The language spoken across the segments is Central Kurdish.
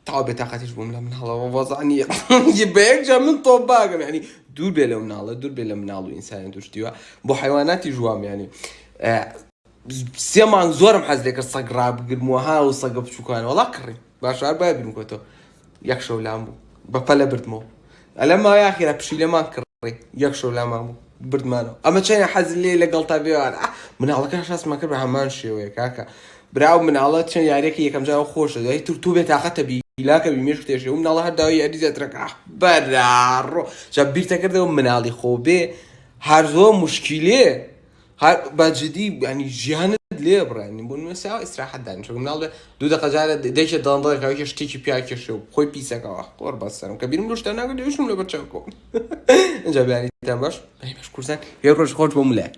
تەواو بێتاقەتیش بووم لە مناڵەوە وەزع نییە بە یەک جا من تۆ باگەم ینی دوور بێ لە مناڵە دوور بێ لە مناڵ و ئینسانی توشتیوە بۆ حیواناتی ژوام ینی سێ مانگ زۆرم حەز لێکە سەگ ڕابگرمەوە ها و سەگە بچووکانەوەڵا کڕی باشار بابرم کۆتەوە یەخشەو لام بوو بە پەلە بردمەوە ئەلە ما یاخیرا پشیلەمان کڕی یەک شەو لامان بوو بردمانەوە ئەمە چەنە حەز لێ لەگەڵ تا بێوان مناڵەکە شاستمان کرد بە هەمان شێوەیە کاکە براو مناڵە چەند یاریەکە یەکەم جاو خۆشە دوای تر تو بێ تااقەتە بی لاکە بی مێش تێشێ و مناڵە هەر داوای یاری زیاترەکە بەراڕۆ جا بیرتە کردەوە مناڵی خۆ بێ هەر زۆر مشکیلێ ها با جدی ینی ژیانت لێ بڕێنی بۆ نوێ ساوە ئیسراحەت دانیشە چون مناڵ بێ دوو دەقە جارە دەیکێ دەڵندەڵێک هاوکێ شتێکی پیا کێشێ و خۆی پیسەکەوە قۆر بەسەرم کە بیرم لەو شتە ناگرت دوێشم لەبەر چاو کۆم ئینجا بیانیتان باش ئەی باش کورسان یە ڕۆژ خۆش بۆ ملاک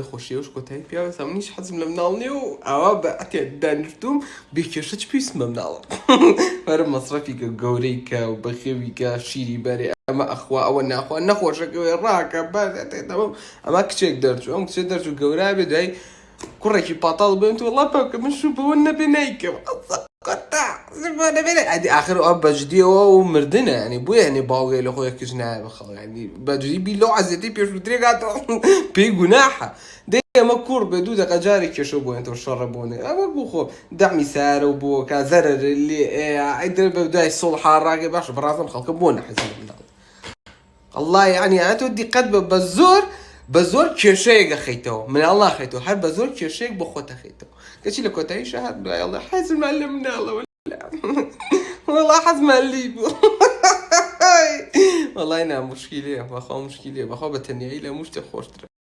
خۆشیەوەش کۆتایی پیاوە سام نیش حەزم لە مناڵ نیە و ئاوا بە ئەتێ دانیشتوم بێ کێشە چ پێویستم بە مناڵە وەرە مەسرەفی کە گەورەی کە و بەخێوی کە شیری بەرێ ئەمە ئەخوا ئەوە ناخوا نەخۆشەکەوێ ڕاکە بەس ئەتێ تەمام ئەما کچێک دەرچوو ئەم کچە دەرچوو گەورە بێ دوای کوڕێکی پاتاڵ بێن تۆ ڵا پاکە من شو بەوە نەبێ نایکەم ئەدی ئاخر ئەو بەجدیەوە و مردنە ینی بۆ یعنی باوگەی لە خۆی کچ نایە بە خەڵگانی بەجدی بی لەو عزیەتی پێشوترێکاتەوە پێی گوناحە دێ ئەمە کوڕ بێ دوو دەقە جارێک کێشە بۆ تۆ شەڕە بۆنێ ئەوە بوو خۆ دەمی سارە و بۆکە زەرە لێ ئەیدر بە دوای سڵ حاڕاگە باش بڕازم خەڵکە بۆ نەحەزی اللە یەعنی ئەە تۆ دیقەت بە بە زۆر بە زۆر کێشەیەک ئەخەیتەوە مناڵ ناخەیتەوە هەر بە زۆر کێشەیەک بۆ خۆت ئەخەیتەوە کەچی لە کۆتاییشا هەر دوای ئەڵێ حەزمان لە مناڵەوە وەڵا حەزمان لی بوو وەڵای نا مشکیلەیە بەخوا مشکیلەیە بەخوا بە تەنیایی لە هەموو شتێ خۆشترە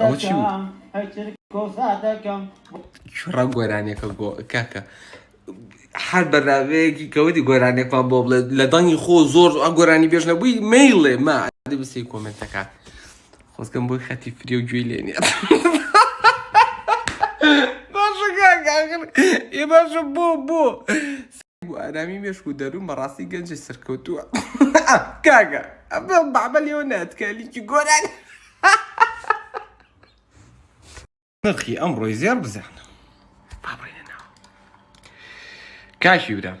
ئەوە چی بوو؟ کوڕە گۆرانیەکە گۆ کاکە هەر بەناوەیەکی کەوتی گۆرانێکمان بۆ بڵێت لە دەنگی خۆ زۆر ئە گۆرانی بێژ نەبووی میلێ ما بسی کۆمنتەکە خۆزگەم بۆی خەتی فری و گوێی لێنێ ئێ باشە بۆ بۆ بۆ ئارامی مێشک و دەروون بەڕاستی گەنجێ سەرکەوتووە کاگە ئەمە بابە لێوە ناتکە لیکی گۆران نرخی ئەم ڕۆی زێر بزانە بابڕێنە ناو کاشی برام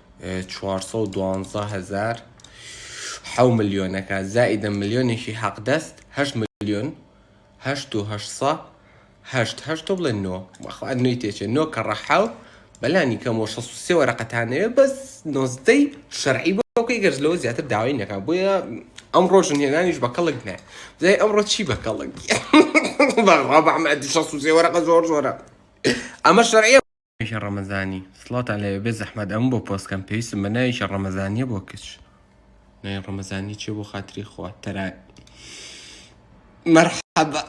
چوار سەد و دوانزە هەزار حەو ملیۆنەکە زائیدە ملیۆنێکی حەقدەست هەشت ملیۆن هەشت و هەشسە هەشت هەشت تۆ بڵێ نۆ بەخوا نوێی تێچێ نۆ کە ڕەحاو بەلانی کەمەوە شەست و سێ وەرەقەتانەوێ بەس نۆزدەی شەرعی بۆکەی گەرج لەوە زیاتر داوای نەکا بۆیە ئەم ڕۆژن هێنانیش بە کەڵک نە زای ئەمڕۆ چی بە کەڵک بەڕابعمە شەست و سێ وەرەقە زۆر زۆرە ئەمە شەرعیە ئیشە ڕەمەزانی سڵاوتان لێبێ بێ زەحمەت ئەم بۆ پۆستکەم پێویستم بە ناوی ئیشە ڕەمەزانیە بۆ کچ ناوی ڕەمەزانی چێ بۆ خاتری خوا تەرا مرحبا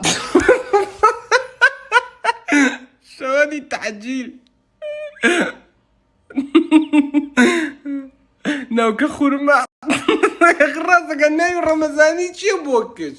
شوانی تعجیل ناوکە خورما ڕاستەکە ناوی ڕەمەزانی چییە بۆ کچ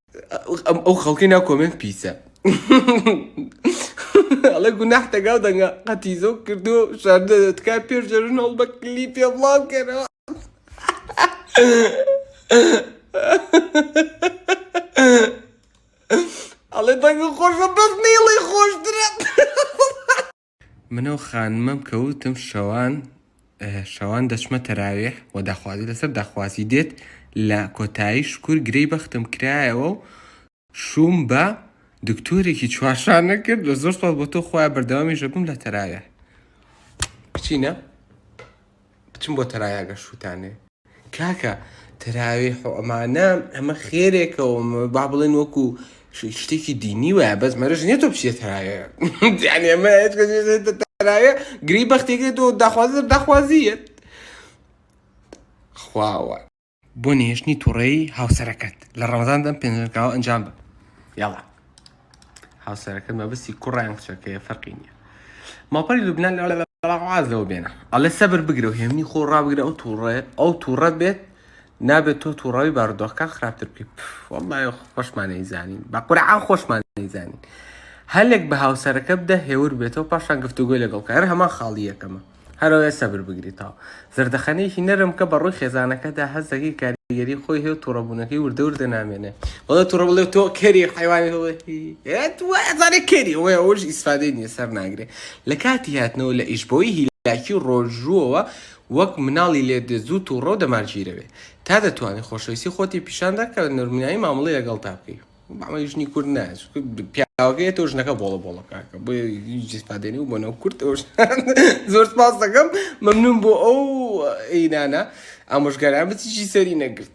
ئەو خەڵکی ناو کۆمێنت پیسە ئەڵێ گوناح دەگا و دەنگە قەتیزۆ کردو شاردە تکا پێش جەژن هەڵ بە کلی پێ بڵاو کەرەوە ئەڵێ دەنگە خۆشە بەس نیڵی خۆشترە من و خانمم کەوتم شەوان شەوان دەچمە تەراویح و داخوازی لەسەر داخوازی دێت لە کۆتایی شکور گرێی بەختم کرایەوە و شووم بە دکتۆرێکی چوارشانە کرد لە زۆر سپاس بۆ تۆ خۆیان بەردەوامی ژەبم لە تەراویح بچینە بچم بۆ تەرای ئاگەر شووتانێ. کاکە تەراویح و ئەمانە ئەمە خێرێکە و با بڵێن وەکو شتێکی دینی وایە بەس مەرج نییە تۆ بچیە تەراوێ تەراوێ گری بەختێکێت و داخوازی داخوازیت خواوە بۆ نەهێشتنی توڕەیی هاوسەرەکەت لە ڕەمەزاندا ئەم پێنجەرکاوە ئەنجام بە یاڵا هاوسەرەکەت مەبستی کوڕیان کچەکەیە فەرقی نییە ماپەری لوبنان لەوازەوە بێنە ئەڵێ سەبر بگرە و هێمنی خۆ ڕابگرە ئەو تووڕێ ئەو تووڕەت بێت نابێت تۆ تووڕاوی بارودۆخەکان خراپتر بکەیت وڵای خۆشمانەی زانین بە قورعان خۆشمان زانین هەلێک بە هاوسەرەکە بدە هێور بێتەوە پاشان گفتوگۆی لەگەڵ کار هەمان خاڵی یەکەمە هەرەوەیە سەبر بگریتەوە. زەردەخەنەیەکی نەرم کە بە ڕووی خێزانەکەدا هەست دەکەی کاریگەری خۆی هەیە و تووڕەبوونەکەی وردە وردە نامێنێ بەڵێ تووڕە بڵێ تۆ کەری حیوانی هەڵێزانێ کەری ئەوە ئەوش ئیسفادەی نیە سەر ناگرێ لە کاتی هاتنەوە لە ئیش بۆی هیلاکی و ڕۆژووەوە وەک مناڵی لێ دێ زوو تووڕە و دەمارگیرەوێ تا دەتوانێت خۆشەویستی خۆتی پیشاندا کە نەرمنایی مامەڵەی لەگەڵ تا بکەی مامەی ژنی کورد نایە چونکە پیاوەکەی تۆ ژنەکە بۆڵە بۆڵە کاکە بۆ جسپادێنی و بۆنەوە کورد ئەوش زۆر سپاس دەکەم مەمنون بۆ ئەو ئینانە ئامۆژگاران بچیشی سەری نەگرت